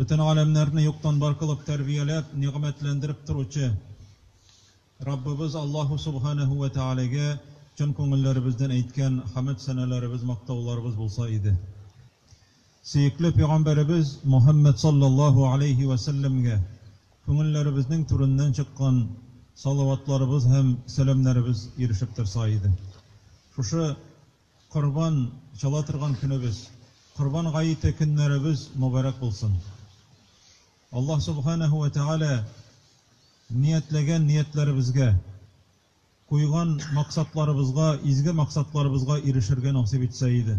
Бөтен галәмнәрне юктан бар кылып тәрбияләп, нигъмәтләндереп торучы Раббыбыз Аллаһу Субханәһү вә Тәгаләгә чын күңелләребездән әйткән хәмд-сәналарыбыз, мактауларыбыз булса иде. Сөекле пәйгамбәребез Мухәммәд салләллаһу галәйһи вә сәлләмгә күңелләребезнең түреннән чыккан салаватларыбыз һәм сәламнәребез ирешеп торса иде. Шушы Корбан чала торган көнебез, Корбан гаете көннәребез мобарәк булсын! Аллаһ Субханәһү вә Тәгалә ниятләгән ниятләребезгә, куйган максатларыбызга, изге максатларыбызга ирешергә насыйп итсә иде.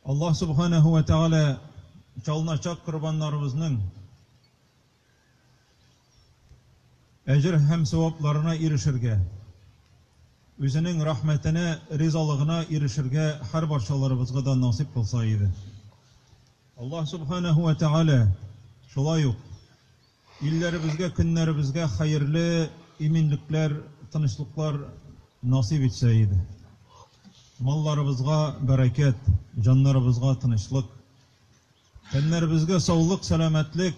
Аллаһ Субханәһү вә Тәгалә чалыначак корбаннарыбызның, Әҗер һәм савапларына ирешергә, Үзенең рәхмәтенә, ризалыгына ирешергә һәрбарчаларыбызга да насыйп кылса иде. Аллаһ Субханәһү вә Тәгалә шулай ук илләребезгә, көннәребезгә хәерле иминлекләр, тынычлыклар насыйп итсә иде. Малларыбызга бәрәкәт, җаннарыбызга тынычлык, Тәннәребезгә саулык, сәламәтлек,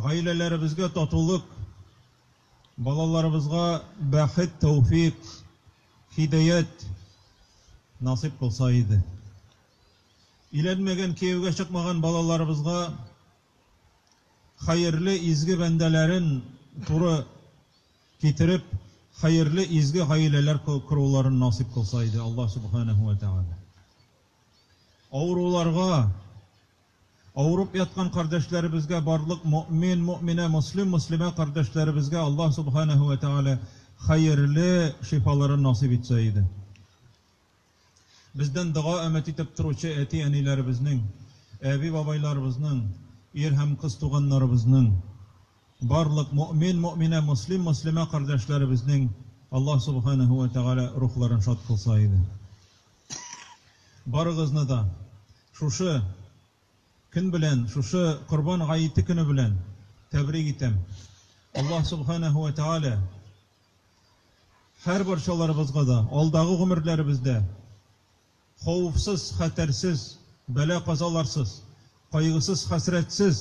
гаиләләребезгә татулык, балаларыбызга бәхет, тәүфик, хидәят насыйп булса иде. Өйләнмәгән, кияүгә чыкмаган балаларыбызга хәерле, изге бәндәләрен туры китереп, хәерле, изге гаиләләр коруларын насыйп кылса иде Аллаһ Субханәһү вә Тәгалә. Авыруларга, авырып яткан кардәшләребезгә, барлык мөэмин, мөэминә, мөслим, мөслимә кардәшләребезгә Аллаһ Субханаһу вә Тәгалә хәерле шифаларын насыйп итсә иде. Бездән дога өмет итеп торучы әти-әниләребезнең, әби-бабайларыбызның, ир һәм кыз туганнарыбызның, барлык мөэмин, мөэминә, мөслим, мөслимә кардәшләребезнең Аллаһ Субханаһу вә Тәгалә рухларын шат кылса иде. Барыгызны да шушы көн белән, шушы Корбан гаете көне белән тәбрик итәм. Аллаһ Субханәһү вә Тәгалә һәр барчаларыбызга да алдагы гомерләребездә хауфсыз, хәтәрсез, бәла-казаларсыз, кайгысыз, хәсрәтсез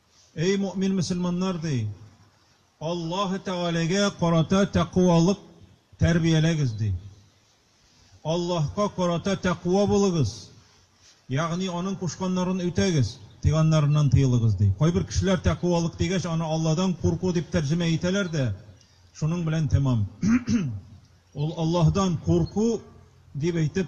Эй мөэмин мөселманнар, ди, Аллаһы Тәгаләгә карата тәкъвалык тәрбияләгез, ди. Аллаһка карата тәкъва булыгыз, ягъни Аның кушканнарын үтәгез, тыйганнарыннан тыелыгыз, ди. Кайбер кешеләр тәкъвалык дигәч, аны Алладан курку дип тәрҗемә итәләр дә, шуның белән тәмам. Ул Аллаһдан курку дип әйтеп,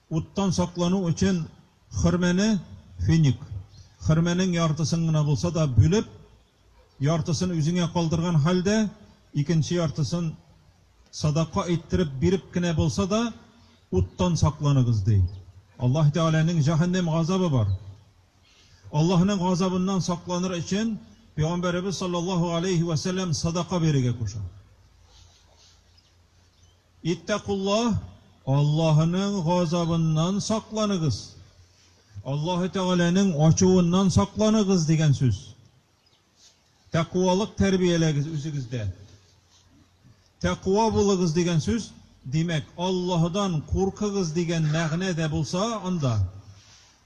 Уттан саклану өчен хөрмәне, финик, хөрмәнең яртысын гына булса да бүлеп, яртысын үзеңә калдырган хәлдә, икенче яртысын садака иттереп биреп кенә булса да, уттан сакланыгыз, ди. Аллаһ Тәгаләнең җәһәннәм газабы бар. Аллаһның газабыннан сакланыр өчен Пәйгамбәребез саллаллаһу галәйһи вә сәлләм садака бирергә куша. Иттәкуллаһ, Аллаһының газабыннан сакланыгыз, Аллаһы Тәгаләнең ачуыннан сакланыгыз, дигән сүз. Тәкъвалык тәрбияләгез үзегездә. Тәкъва булыгыз дигән сүз, димәк, Аллаһыдан куркыгыз дигән мәгънә дә булса, анда.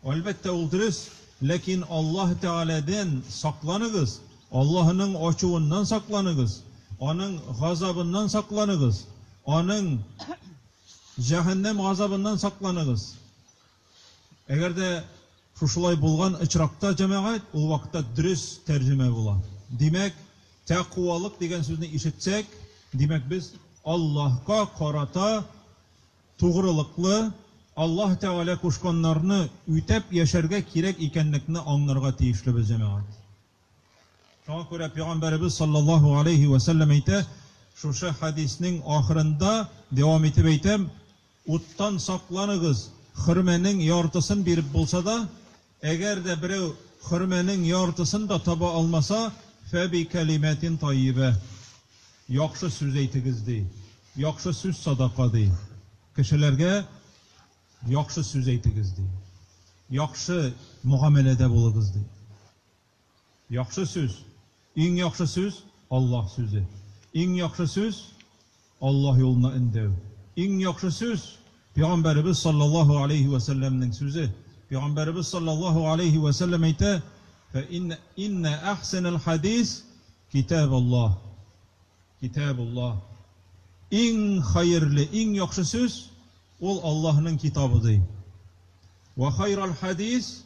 Әлбәттә, ул дөрес, ләкин Аллаһ Тәгаләдән сакланыгыз, Аллаһының ачуыннан сакланыгыз, Аның газабыннан сакланыгыз, Аның җәһәннәм газабыннан сакланыгыз. Әгәр дә шушылай булган очракта, җәмәгать, ул вакытта дөрес тәрҗемә була. Димәк, тәкъвалык дигән сүзне ишетсәк, димәк, без Аллаһка карата Тугрылыклы, Аллаһ Тәгалә кушканнарны үтәп яшәргә кирәк икәнлекне аңнарга тиешлебез, җәмәгать. Шуңа күрә Пәйгамбәребез салләллаһу галәйһи вә сәлләм әйтә, шушы хәдиснең ахырында, дәвам итеп әйтәм, Уттан сакланыгыз, хөрмәнең яртысын биреп булса да, Әгәр дә берәү хөрмәнең яртысын да таба алмаса, фәбикәлимәтин таййибә, яхшы сүз әйтегез, ди. Яхшы сүз садака, ди. Кешеләргә яхшы сүз әйтегез, ди. Яхшы мөгамәләдә булыгыз, ди. Яхшы сүз. Иң яхшы сүз, Аллаһ сүзе. Иң яхшы сүз, Аллаһ юлына өндәү. Иң яхшы сүз, Пәйгамбәребез салләллаһу галәйһи вә сәлләмнең сүзе. Пәйгамбәребез салләллаһу галәйһи вә сәлләм әйтә, Фә иннә, иннә әхсәнәл хәдис китәбуллаһ, китәбуллаһ. Иң хәерле, иң яхшы сүз, ул Аллаһның китабы, ди. Вә хайрал хәдис.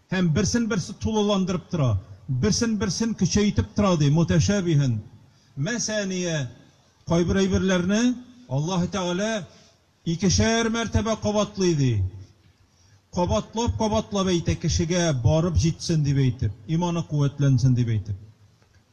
Һәм берсен-берсе тулыландырып тора, берсен-берсен көчәйтеп тора, ди, мутәшәбиһән, мәсәәния, кайбер әйберләрне Аллаһы Тәгалә икешәр мәртәбә кабатлый, ди, кабатлап-кабатлап әйтә, кешегә барып җитсен дип әйтеп, иманы куәтләнсен дип әйтеп.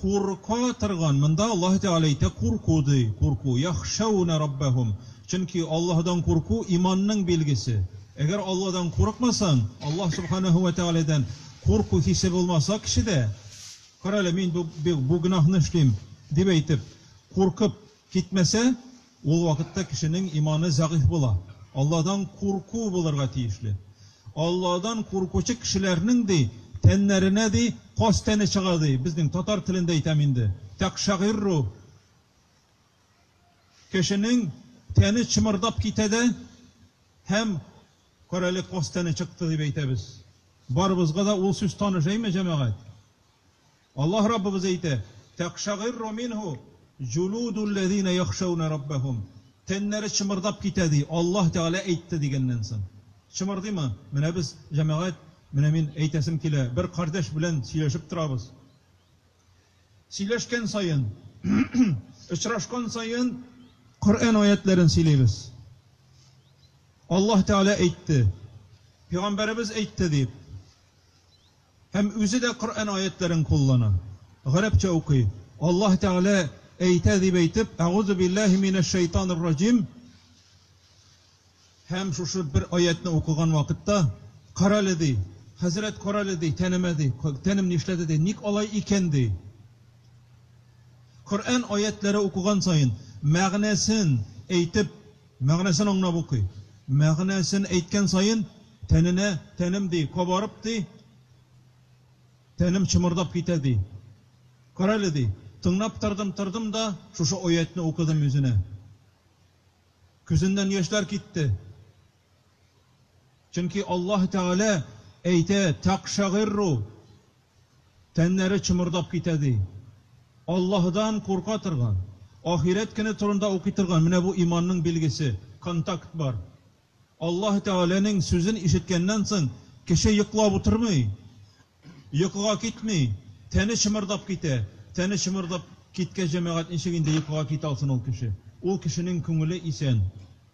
Курка торган, монда Аллаһы Тәгалә әйтә, курку ди, курку, яхшәүнә раббәһүм, чөнки Аллаһыдан курку, иманның билгесе. Әгәр Алладан курыкмасаң, Аллаһ Субханаһу вә Тәгаләдән курку хисе булмаса кешедә, карале, мин бу гөнаһны эшлим, дип әйтеп, куркып китмәсә, Ул вакытта кешенең иманы зәгыйфь була. Алладан курку булырга тиешле. Алладан куркучы кешеләрнең, ди, тәннәренә, ди, каз тәне чыга, ди, безнең татар телендә әйтәм инде, тәкъшәгыйрру, кешенең тәне чымырдап китә дә һәм, Карале, каз тәне чыкты, дип әйтәбез. Барыбызга да ул сүз таныш, әйме, җәмәгать? Аллаһ Раббыбыз әйтә, Тәкъшагыйрру минһу җулудулләзинә яхшәүнә раббәһум, Тәннәре чымырдап китә, ди, Аллаһ Тәгалә әйтте дигәннән соң. Чымырдыймы? Менә без, җәмәгать, менә мин әйтәсем килә, бер кардәш белән сөйләшеп торабыз. Сөйләшкән саен, очрашкан саен Коръән аятьләрен сөйлибез. Аллаһ Тәгалә әйтте, пигамбәребез әйтте дип. Һәм үзе дә Коръән аятьләрен куллана, гарәпчә укый. Аллаһ Тәгалә әйтә дип әйтеп, Әгузу билләһи минәш шәйтанир раҗим һәм шушы бер аятьне укыган вакытта, Карале, ди, хәзрәт, карале, ди, тәнемә, ди, тәнем нишләде, ди, ник алай икән, ди. Коръән аятьләре укыган саен, мәгънәсен әйтеп, Мәгънәсен аңлап укый. Мәгънәсен әйткән саен, тәненә, тәнем, ди, кабарып, ди, тәнем чымырдап китә, ди. Карале, ди, тыңлап тордым, тордым да, шушы аятьне укыдым үзенә. Күзеннән яшьләр китте. Чөнки Аллаһ Тәгалә әйтә, Тәкъшәгыйрру Тәннәре чымырдап китә, ди. Аллаһыдан курка торган, ахирәт көне турында укый торган, менә бу иманның билгесе, контакт бар. Аллаһы Тәгаләнең сүзен ишеткәннән соң, кеше йоклап утырмый, йокыга китми, тәне чымырдап китә. Тәне чымырдап киткәч, җәмәгать, ничек инде йокыга китә алсын ул кеше? Ул кешенең күңеле исән.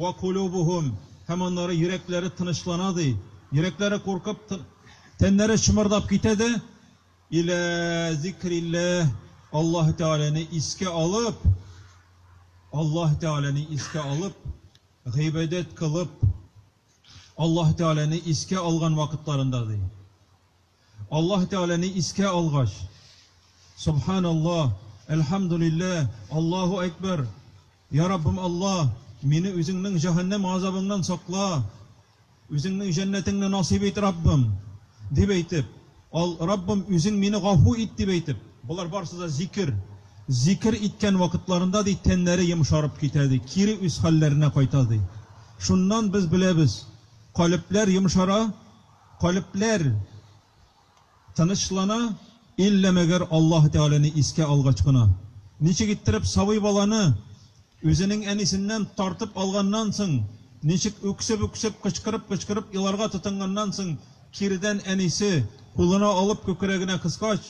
Вә кулубухум, һәм аннары йөрәкләре тынычлана, ди, йөрәкләре куркып, тәннәре чымырдап китә дә, илә зикрилләһ, Аллаһы Тәгаләне искә алып, Аллаһы Тәгаләне искә алып, гыйбадәт кылып, Аллаһы Тәгаләне искә алган вакытларында, ди. Аллаһ Тәгаләне искә алгач, Собханаллаһ, Әлхәмдүлилләһ, Аллаһу Әкбәр, Йа Раббым Аллаһ, мине Үзеңнең җәһәннәм газабыңнан сакла, Үзеңнең җәннәтеңне насыйп ит, Раббым! дип әйтеп, ал, Раббым, Үзең мине гафу ит! дип әйтеп, болар барысы да зикер, зикер иткән вакытларында, ди, тәннәре йомшарып китә, ди, кире үз хәлләренә кайта, ди. Шуннан без беләбез, калебләр йомшара. Калебләр тынычлана, иллә мәгәр Аллаһы Тәгаләне искә алгач кына. Ничек иттереп сабый баланы үзенең әнисеннән тартып алганнан соң, ничек үксеп-үксеп, кычкырып-кычкырып еларга тотынганнан соң, кирдән әнисе кулына алып күкрәгенә кыскач,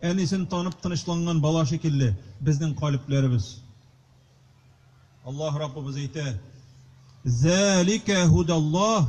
әнисен танып тынычланган бала шикелле, безнең калебләребез. Аллаһ Раббыбыз әйтә, Зәликә һудәллаһ,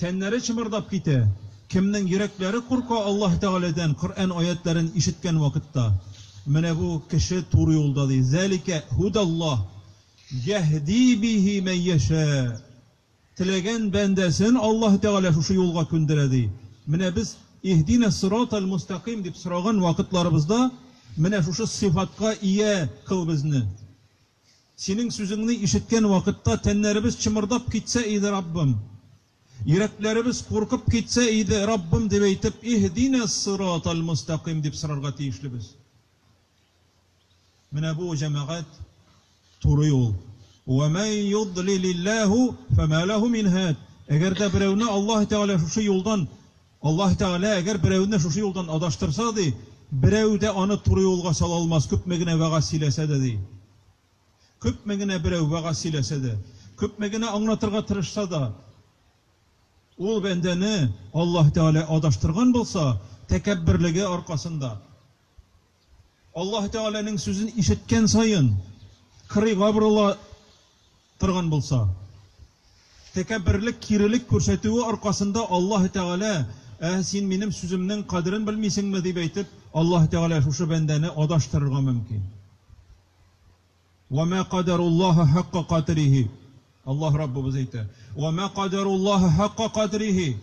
Тәннәре чымырдап китә. Кемнең йөрәкләре курка Аллаһ Тәгаләдән Коръән аятьләрен ишеткән вакытта? Менә бу кеше туры юлда, ди. Зәликә һудәллаһ йәһди биһи мән йәшә. Теләгән бәндәсен Аллаһ Тәгалә шушы юлга күндерә, ди. Менә без Иһдинә ссирата әл-мустәкыйм дип сораган вакытларыбызда, менә шушы сыйфатка ия кыл безне. Синең сүзеңне ишеткән вакытта тәннәребез чымырдап китсә иде, Раббым! Йөрәкләребез куркып китсә иде, Раббым! дип әйтеп, Иһдинә ссырат әл-мөстәкыйм дип сорарга тиешлебез. Менә бу, җәмәгать, туры юл. Вә мән йодлилилләһу фәмә ләһу мин һәд. Әгәр дә берәүне Аллаһы Тәгалә шушы юлдан Аллаһы Тәгалә, әгәр берәүне шушы юлдан адаштырса, ди, берәү дә аны туры юлга сала алмас, күпме генә вәгазь сөйләсә дә, ди. Күпме генә берәү вәгазь сөйләсә дә, күпме генә аңлатырга тырышса да, ул бәндәне Аллаһы Тәгалә адаштырган булса, тәкәбберлеге аркасында, Аллаһы Тәгаләнең сүзен ишеткән саен, кырыйга борыла торган булса, тәкәбберлек, кирелек күрсәтүе аркасында Аллаһы Тәгалә, Ә син минем сүземнең кадерен белмисеңме? дип әйтеп, Аллаһы Тәгалә шушы бәндәне адаштырырга мөмкин. Ва мә кадаруллаһа хакка кадрихи. Аллаһ Раббыбыз әйтә, Ва мә кадаруллаһа хакка кадрихи.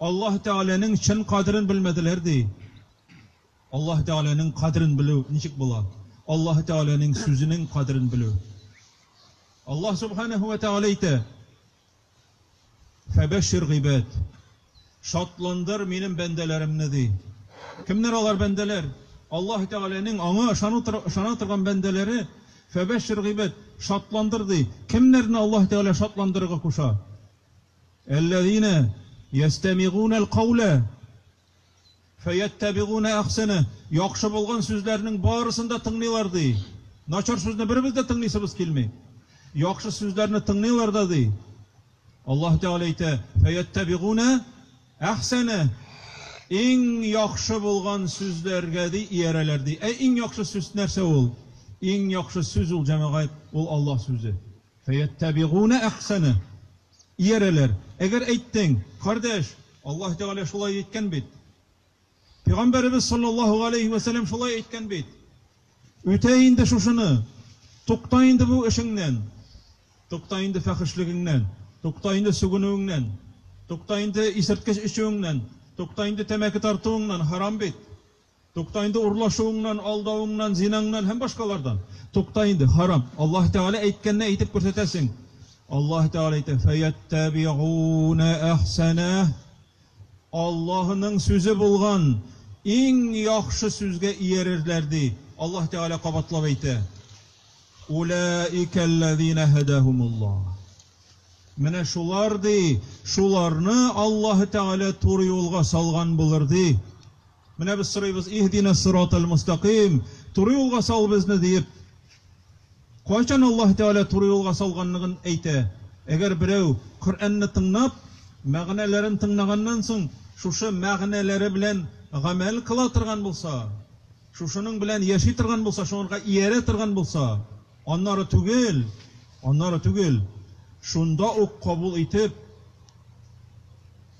Аллаһ Тәгаләнең чын кадерен белмәделәр, ди. Аллаһ Тәгаләнең кадерен белү ничек була? Аллаһ Тәгаләнең сүзенең кадерен белү. Аллаһ Субханәһү вә Тәгалә әйтә, Фәбәшшир гыйбәд, шатландыр минем бәндәләремне, ди. Кемнәр алар бәндәләр? Аллаһ Тәгаләнең аңа ышану ышана торган бәндәләре, Фәбәшшир гыйбәд, шатландыр, ди. Кемнәрне Аллаһ Тәгалә шатландырырга куша? Әлләзинә ястәмигунә әлкаулә фәяттәбигунә әхсәнә, яхшы булган сүзләрнең барысын да тыңлыйлар, ди. Начар сүзне беребез дә тыңлыйсыбыз килми. Яхшы сүзләрне тыңлыйлар да, ди. Аллаһ Тәгалә әйтә, фәяттәбигунә әхсәнә, иң яхшы булган сүзләргә, ди, иярәләр, ди. Ә иң яхшы сүз нәрсә ул? Иң яхшы сүз ул, җәмәгать, ул Аллаһ сүзе. Фәяттәбигунә әхсәнә, иярәләр. Әгәр әйттең, кардәш, Аллаһ Тәгалә шулай әйткән бит. Пигамбәребез салләллаһу галәйһи вә сәлләм шулай әйткән бит. Үтә инде шушыны, тукта инде бу эшеңнән, тукта инде фәхешлегеңнән, тукта инде сүгенүеңнән, тукта инде исерткеч эчүеңнән, тукта инде тәмәке тартуыңнан, харам бит. Тукта инде урлашуыңнан, алдавыңнан, зинаңнан һәм башкалардан. Тукта инде, харам. Аллаһ Тәгалә әйткәнне әйтеп күрсәтәсең. Аллаһ Тәгалә әйтә, фәяттәбигуна әхсәнә. Аллаһының сүзе булган иң яхшы сүзгә иярерләр, ди. Аллаһ Тәгалә кабатлап әйтә. Улаикәлләзина һәдәһумуллаһ. Менә шулар, ди, шуларны Аллаһ Тәгалә туры юлга салган булыр, ди. Менә без сорыйбыз, Иһдина сиротал мустакыйм, туры юлга сал безне, диеп. Кайчан Аллаһ Тәгалә туры юлга салганлыгын әйтә? Әгәр берәү Коръәнне тыңнап, мәгънәләрен тыңнаганнан соң, шушы мәгънәләре белән гамәл кыла торган булса, шушының белән яши торган булса, шуңарга иярә торган булса, аннары түгел, аннары түгел, шунда ук кабул итеп,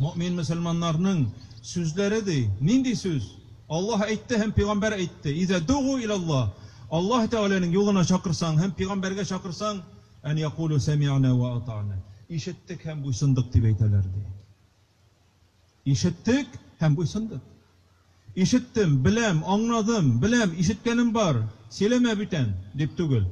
Мөэмин мөселманнарның сүзләре ди. Нинди сүз? Аллаһ әйтте һәм пигамбәр әйтте. Иза дугу иля Аллаһ. Аллаһ Тәгаләнең юлына чакырсаң һәм пигамбәргә чакырсаң, ан якулу сәмиана ва атана. Ишеттек һәм буйсындык дип әйтәләр ди. Ишеттек һәм буйсындык. Ишеттем, беләм, аңнадым, беләм, ишеткәнем бар, сөйләмә бүтән, дип түгел.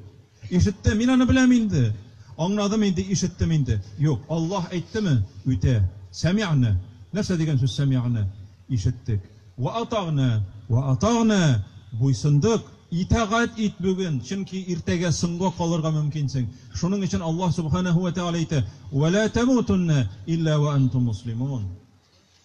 Ишеттем, мин аны беләм инде, аңнадым инде, ишеттем инде. Юк, Аллаһ әйттеме, үтә. Сәмигънә. Нәрсә дигән сүз сәмигънә? Ишеттек. Вә атагънә. Вә атагънә. Буйсындык. Итагать ит бүген, чөнки иртәгә соңга калырга мөмкинсең. Шуның өчен Аллаһ Сүбхәнәһү вә Тәгалә әйтә, Вә лә тәмүтүннә илля вә әнтүм муслимун.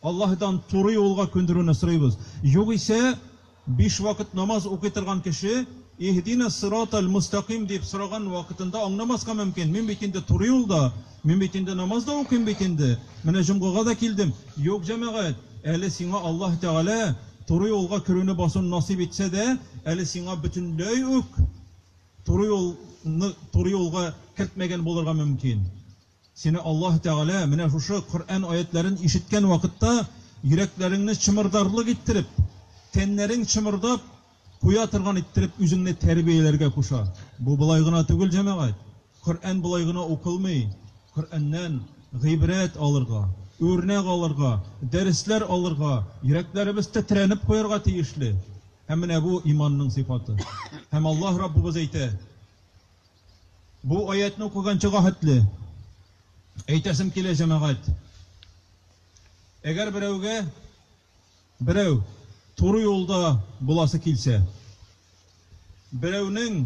Аллаһыдан туры юлга күндерүне сорыйбыз. Югыйсә, биш вакыт намаз укый торган кеше, Иһдина ссироталь мөстәкыйм дип сораган вакытында аңламаска мөмкин, мин бит инде туры юлда, мин бит инде намаз да укыйм бит инде, менә җомгага да килдем. Юк, җәмәгать, әле сиңа Аллаһ Тәгалә туры юлга керүне басуны насыйп итсә дә, әле сиңа бөтенләй үк туры юлны туры юлга кертмәгән булырга мөмкин. Сине Аллаһ Тәгалә менә шушы Коръән аятьләрен ишеткән вакытта йөрәкләреңне чымырдарлык иттереп, тәннәрең чымырдап куя торган иттереп үзеңне тәрбияләргә куша. Бу болай гына түгел, җәмәгать. Коръән болай гына укылмый. Коръәннән гыйбрәт алырга, үрнәк алырга, дәресләр алырга, йөрәкләребез тетрәнеп куярга тиешле. Һәм менә бу иманның сыйфаты. Һәм Аллаһ Раббыбыз әйтә. Бу аятьне укыганчыга хәтле әйтәсем килә, җәмәгать, әгәр берәүгә берәү туры юлда буласы килсә, берәүнең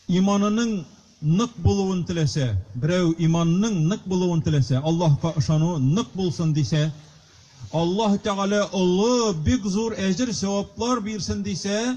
иманының нык булуын теләсә, берәү иманының нык булуын теләсә, Аллаһка ышану нык булсын дисә, Аллаһ Тәгалә олы, бик зур әҗер-сәваплар бирсен дисә,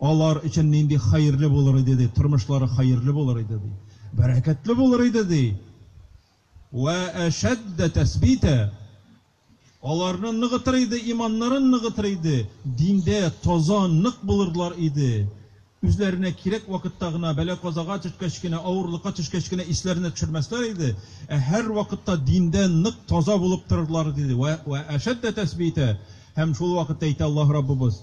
Алар өчен нинди хәерле булыр иде, ди, тормышлары хәерле булыр иде, ди, бәрәкәтле булыр иде, ди. Вә әшәддә тәсбитә. Аларны ныгытыр иде, иманнарын ныгытыр иде, диндә таза, нык булырлар иде. Үзләренә кирәк вакытта гына, бәла-казага төшкәч кенә, авырлыкка төшкәч кенә исләренә төшермәсләр иде, ә һәрвакытта диндә нык, таза булып торырлар иде, ди. Вә әшәддә тәсбитә. Һәм шул вакытта әйтә Аллаһ Раббыбыз.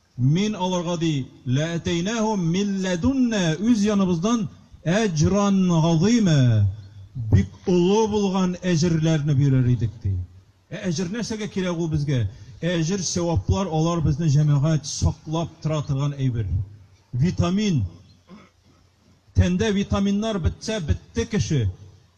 Мин аларга, ди, ләәтәйнәһүм мин ләдүннә, үз яныбыздан әҗран газыйма, бик олы булган әҗерләрне бирер идек, ди. Ә әҗер нәрсәгә кирәк ул безгә? Әҗер, сәваплар, алар безне, җәмәгать, саклап тора торган әйбер. Витамин. Тәндә витаминнар бетсә, бетте кеше.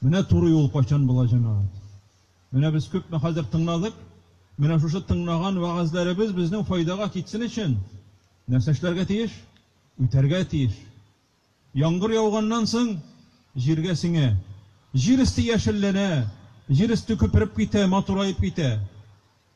Менә туры юл кайчан була, җәмәгать. Менә без күпме хәзер тыңладык, менә шушы тыңнаган вәгазьләребез безнең файдага китсен өчен нәрсә эшләргә тиеш? Үтәргә тиеш. Яңгыр яуганнан соң, җиргә сеңә. Җир өсте яшелләнә, җир өсте күпереп китә, матураеп китә.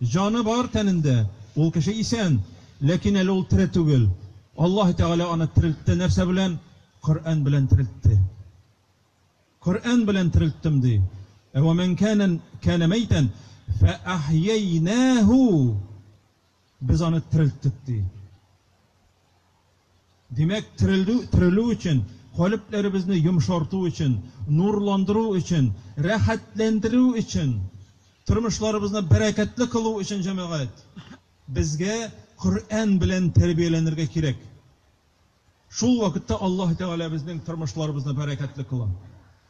Җаны бар тәнендә, ул кеше исән, ләкин әле ул тере түгел. Аллаһы Тәгалә аны терелтте, нәрсә белән? Коръән белән терелтте. Коръән белән терелттем, ди. Ә вә мән кәнә кәнә мәйтән фә әхйәйнәһү. Без аны терелттек, ди. Димәк, терелдү, терелү өчен, калебләребезне йомшарту өчен, нурландыру өчен, рәхәтләндерү өчен, тормышларыбызны бәрәкәтле кылу өчен, җәмәгать, безгә Коръән белән тәрбияләнергә кирәк. Шул вакытта Аллаһ Тәгалә безнең тормышларыбызны бәрәкәтле кыла.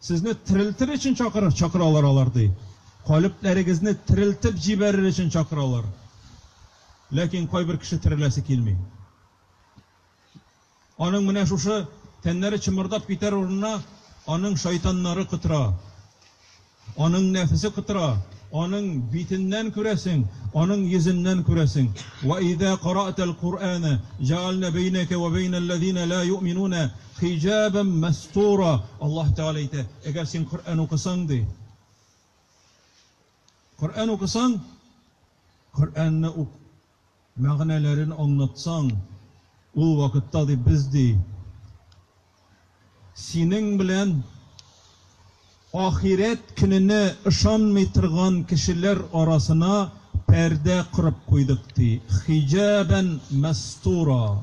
Сезне терелтер өчен чакырыр, чакыралар алар, ди. Калебләрегезне терелтеп җибәрер өчен чакыралар. Ләкин кайбер кеше тереләсе килми. Аның менә шушы тәннәре чымырдап китәр урынына аның шайтаннары котыра. Аның нәфесе котыра. Аның битеннән күрәсең, аның йөзеннән күрәсең. Ва иза караатал Куръана, җәгальнә бәйнәкә ва бәйнәл ләзина ла юъминуна Хиҗабән мәстура, Аллаһ Тәгалә әйтә, Әгәр син Коръән укысаң, ди. Коръән укысаң, Коръәнне ук мәгънәләрен аңлатсаң, ул вакытта, ди, без, ди, синең белән ахирәт көненә ышанмый торган кешеләр арасына пәрдә корып куйдык, ди. Хиҗабән мәстура.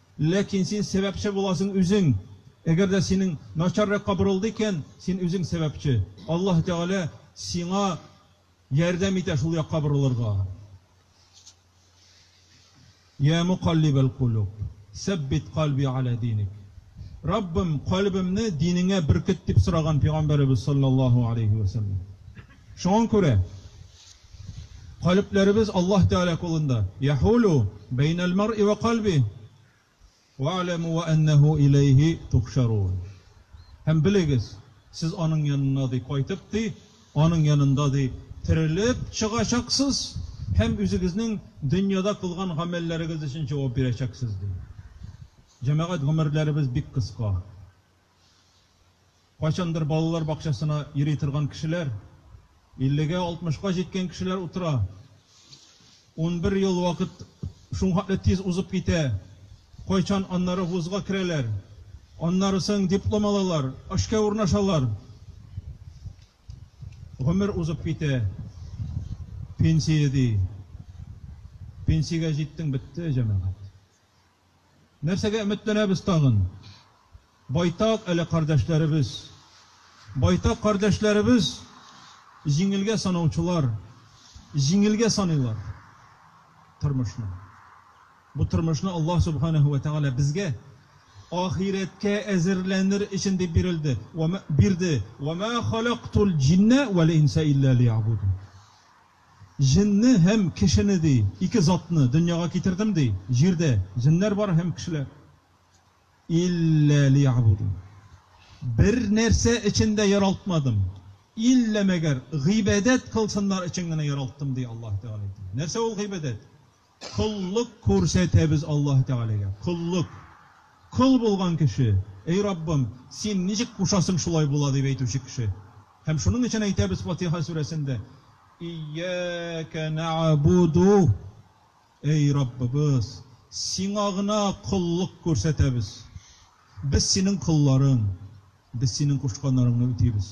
Ләкин син сәбәпче буласың үзең. Әгәр дә синең начар якка борылды икән, син үзең сәбәпче. Аллаһы Тәгалә сиңа ярдәм итә шул якка борылырга. Йә мукаллибәл-кулуб, сәббит кальби галә диник. Раббым, кальбемне динеңә беркет, дип сораган Пәйгамбәребез салләллаһу галәйһи вә сәлләм. Шуңа күрә калебләребез Аллаһ Тәгалә кулында, Яһулү бәйнәл маръи вә кальби, вә'аләмү вә әннәһү иләйһи тухшарун. Һәм белегез, сез Аның янына, ди, кайтып, ди, Аның янында, ди, терелеп чыгачаксыз һәм үзегезнең дөньяда кылган гамәлләрегез өчен җавап бирәчәксез, ди. Җәмәгать, гомерләребез бик кыска. Кайчандыр балалар бакчасына йөри торган кешеләр, иллегә, алтмышка җиткән кешеләр утыра. Унбер ел вакыт шуңхатлы тиз узып китә. Кайчан аннары вузга керәләр, аннары соң диплом алалар, эшкә урнашалар. Гомер узып китә. Пенсия ди. Пенсиягә җиттең, бетте, җәмәгать. Нәрсәгә өметләнәбез тагын? Байтак әле кардәшләребез. Байтак кардәшләребез җиңелгә санаучылар, җиңелгә саныйлар тормышны. Бу тормышны Аллаһ Субханәһү вә Тәгалә безгә ахирәткә әзерләнер өчен дип бирелде. Бирде. Ва ма халактул җиннә вәл инсә илля лиябудун. Җенне һәм кешене, ди, ике затны дөньяга китердем, ди, җирдә җеннәр бар һәм кешеләр. Илля лиябудун. Бер нәрсә өчен дә яралтмадым, илля мәгәр гыйбадәт кылсыннар өчен генә яралттым, ди Аллаһ Тәгалә әйтә. Нәрсә ул гыйбадәт? Коллык күрсәтәбез Аллаһы Тәгаләгә. Коллык. Кол булган кеше, Эй Раббым, Син ничек кушасың, шулай була, дип әйтүче кеше. Һәм шуның өчен әйтәбез Фатиха сүрәсендә, Ияәкә нәәбүду, Эй Раббыбыз, Сиңа гына коллык күрсәтәбез. Без Синең колларың. Без Синең кушканнарыңны үтибез.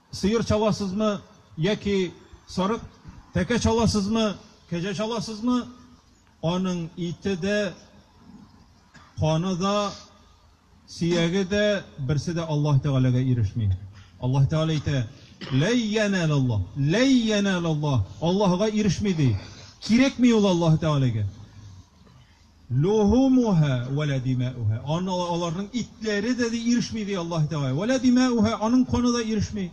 Сыер чаласызмы яки сарык, тәкә чаласызмы, кәҗә чаласызмы, аның ите дә, каны да, сөяге дә, берсе дә Аллаһ Тәгаләгә ирешми. Аллаһ Тәгалә әйтә, Ләй янәл Аллаһ, ләй янәл Аллаһ, Аллаһыга ирешми, ди. Кирәкми ул Аллаһ Тәгаләгә. Лухумуһа вә лә димаүһа, аны аларның итләре дә ди ирешми, ди Аллаһ Тәгалә, вә лә димаүһа, аның каны да ирешми.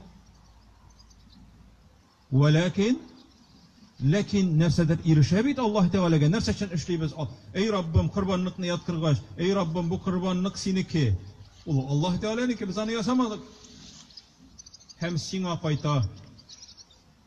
Вәләкин, ләкин нәрсәдер ирешә бит Аллаһ Тәгаләгә, нәрсә өчен эшлибез? Әй Раббым, корбанныкны яткыргач, әй Раббым, бу корбаннык синеке, ул Аллаһ Тәгаләнеке, без аны ясамадык. Һәм сиңа кайта.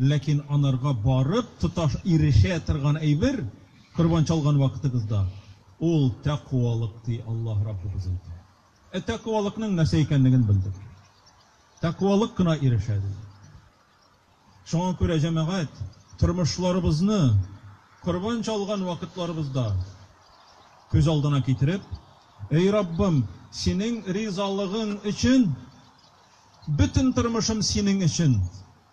Ләкин анарга барып тоташ ирешә торган әйбер, корбан чалган вакытыгызда, ул тәкъвалык, ди Аллаһ Раббыбыз әйтә. Ә тәкъвалыкның нәрсә икәнлеген белдек. Тәкъвалык кына ирешә, ди. Шуңа күрә, җәмәгать, тормышларыбызны корбан чалган вакытларыбызда күз алдына китереп, Эй Раббым, Синең ризалыгың өчен, бөтен тормышым Синең өчен!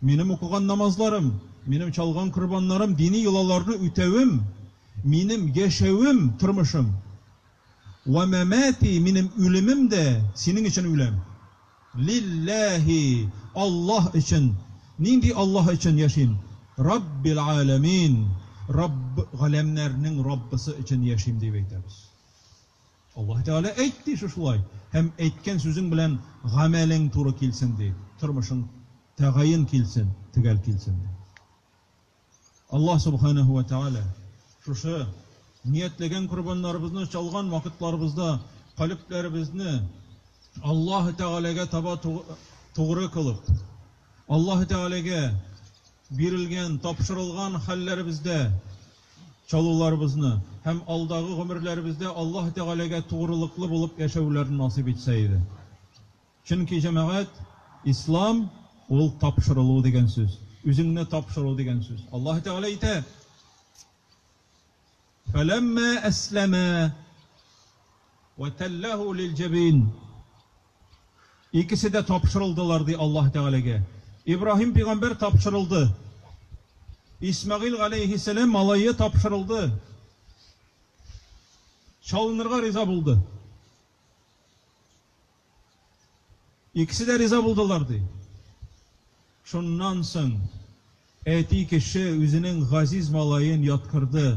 Минем укыган намазларым, минем чалган корбаннарым, дини йолаларны үтәвем, минем яшәвем, тормышым, Вә мәмәти, минем үлемем дә Синең өчен үләм. Лилләһи, Аллаһ өчен. Нинди Аллаһ өчен яшим? Раббил галәмин, Рабб, галәмнәрнең Раббысы өчен яшим, дип әйтәбез. Аллаһы Тәгалә әйт дише шулай, һәм әйткән сүзең белән гамәлең туры килсен, ди, тормышың тәгаен килсен, төгәл килсен, ди. Аллаһ Субханаһу вә Тәгалә шушы ниятләгән корбаннарыбызны чалган вакытларыбызда калебләребезне Аллаһы Тәгаләгә таба тугры кылып, Аллаһы Тәгаләгә бирелгән, тапшырылган хәлләребездә чалуларыбызны һәм алдагы гомерләребездә Аллаһы Тәгаләгә тугрылыклы булып яшәүләрне насыйп итсә иде. Чөнки, җәмәгать, Ислам, ул тапшырылу дигән сүз, үзеңне тапшыру дигән сүз. Аллаһы Тәгалә әйтә, Фәләммә әсләмә, вәтәлләһү лил-җәбин. Икесе дә тапшырылдылар, ди Аллаһы Тәгаләгә. Ибраһим пигамбәр тапшырылды. Исмәгыйль галәйһиссәлам малае тапшырылды. Чалынырга риза булды. Икесе дә риза булдылар, ди. Шуннан соң әти кеше үзенең газиз малаен яткырды.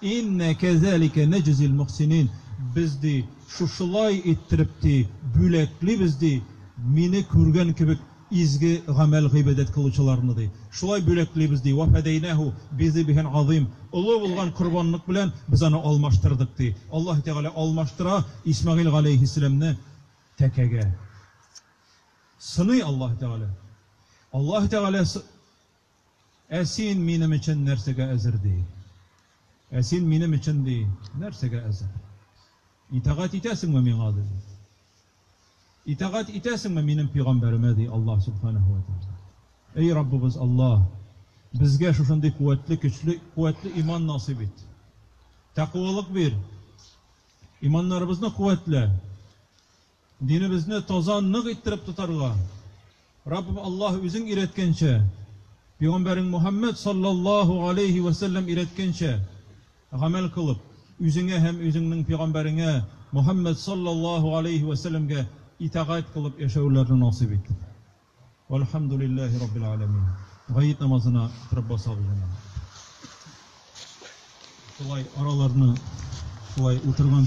Иннә кәзәликә нәҗзил мөхсинин, без, ди, шушылай иттереп, ди, бүләклибез, ди, мине күргән кебек изге гамәл-гыйбадәт кылучыларны, ди, шулай бүләклибез, ди, вәфәдәйнәһү бизибихин газыйм, олы булган корбанлык белән без аны алмаштырдык, ди, Аллаһы Тәгалә алмаштыра Исмәгыйль галәйһиссәламне тәкәгә. Сыный Аллаһы Тәгалә. Аллаһы Тәгалә сы. Ә син минем өчен нәрсәгә әзер, ди? Ә син минем өчен, ди, нәрсәгә әзер? Итагать итәсеңме миңа, ди? Итагать итәсеңме минем пигамбәремә, ди Аллаһ Сүбхәнәһү вә Тәгалә. Әй Раббыбыз Аллаһ, безгә шушындый куәтле, көчле, куәтле иман насыйп ит. Тәкъвалык бир. Иманнарыбызны куәтлә. Динебезне таза, нык иттереп тотарга, Раббым Аллаһ Үзең өйрәткәнчә, Пигамбәрең Мөхәммәд салләллаһу галәйһи вә сәлләм өйрәткәнчә гамәл кылып, үзеңә һәм үзеңнең Пигамбәреңә Мөхәммәд салләллаһу галәйһи вә сәлләмгә итагать кылып яшәүләрне насыйп ит. Вәлхәмдүлилләһи раббил галәмин. Гает намазына торып басабыз инде. Шулай араларны шулай утырган